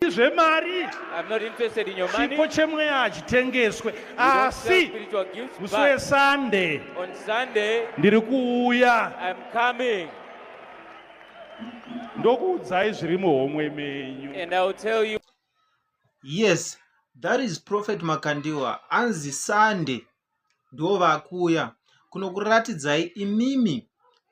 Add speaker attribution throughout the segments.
Speaker 1: zvemari
Speaker 2: chipo chemweya hachitengeswe
Speaker 1: asi musi
Speaker 2: wesunday ndiri kuuya
Speaker 1: ndokuudzai zviri muhomwe menyu
Speaker 2: yes
Speaker 3: that is prophet makandiwa anzi sunday ndo vakuuya kunokuratidzai imimi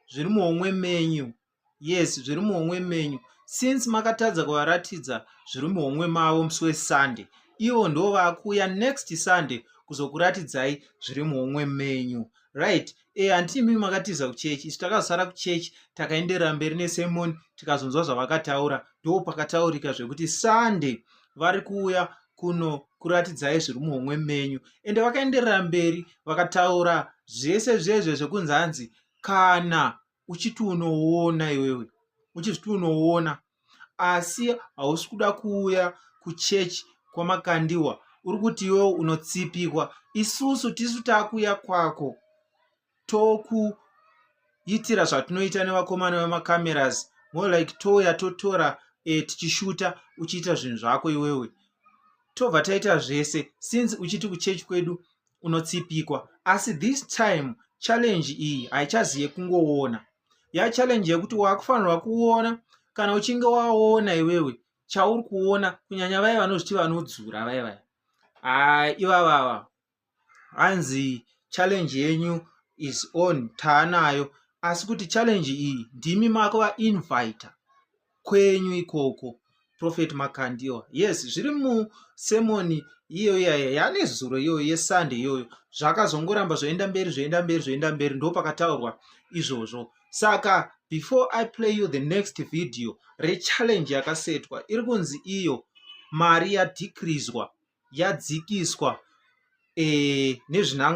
Speaker 3: zviri muhomwe menyu yes zviri muhomwe menyu since makatadza kuvaratidza zviri muhomwe mavo musi wesunday ivo ndo vakuuya next sunday kuzokuratidzai zviri muhomwe menyu right e eh, handiti imimi makatiza kuchechi isu takazosara kuchechi takaenderera mberi nesemoni tikazonzwa zvavakataura ndo pakataurika zvekuti sunday vari kuuya kuno kuratidzai zviri muhomwe menyu ende vakaenderera mberi vakataura zvese zvezve zvekunzi hanzi kana uchiti unoona iwewe uchiti unoona asi hausi kuda kuuya kuchechi kwamakandiwa uri kuti iwewe unotsipikwa isusu tisu takuuya kwako tokuitira zvatinoita nevakomana vemacameras more like touya totora e, tichishuta uchiita zvinhu zvako iwewe tobva taita zvese since uchiti kuchechi kwedu unotsipikwa asi this time challenge iyi haichazi yekungoona ya challenge yekuti wakufanirwa kuona kana uchinge waona iwewe chauri kuona kunyanya vaye vanozviti vanodzura vaye vaye haa ivavava hanzi challenge yenyu is on taanayo asi kuti challenge iyi ndimi mako vainvita kwenyu ikoko prophet makandiwa yes zviri musemoni iyoyo yaya yane zuro iyoyo yesande iyoyo zvakazongoramba zvoenda mberi zvoenda mberi zvoenda mberi ndo pakataurwa izvozvo saka before i play you the next video rechallenge yakasetwa iri kunzi iyo mari yadhikrizwa yadzikiswa e, nezvinanga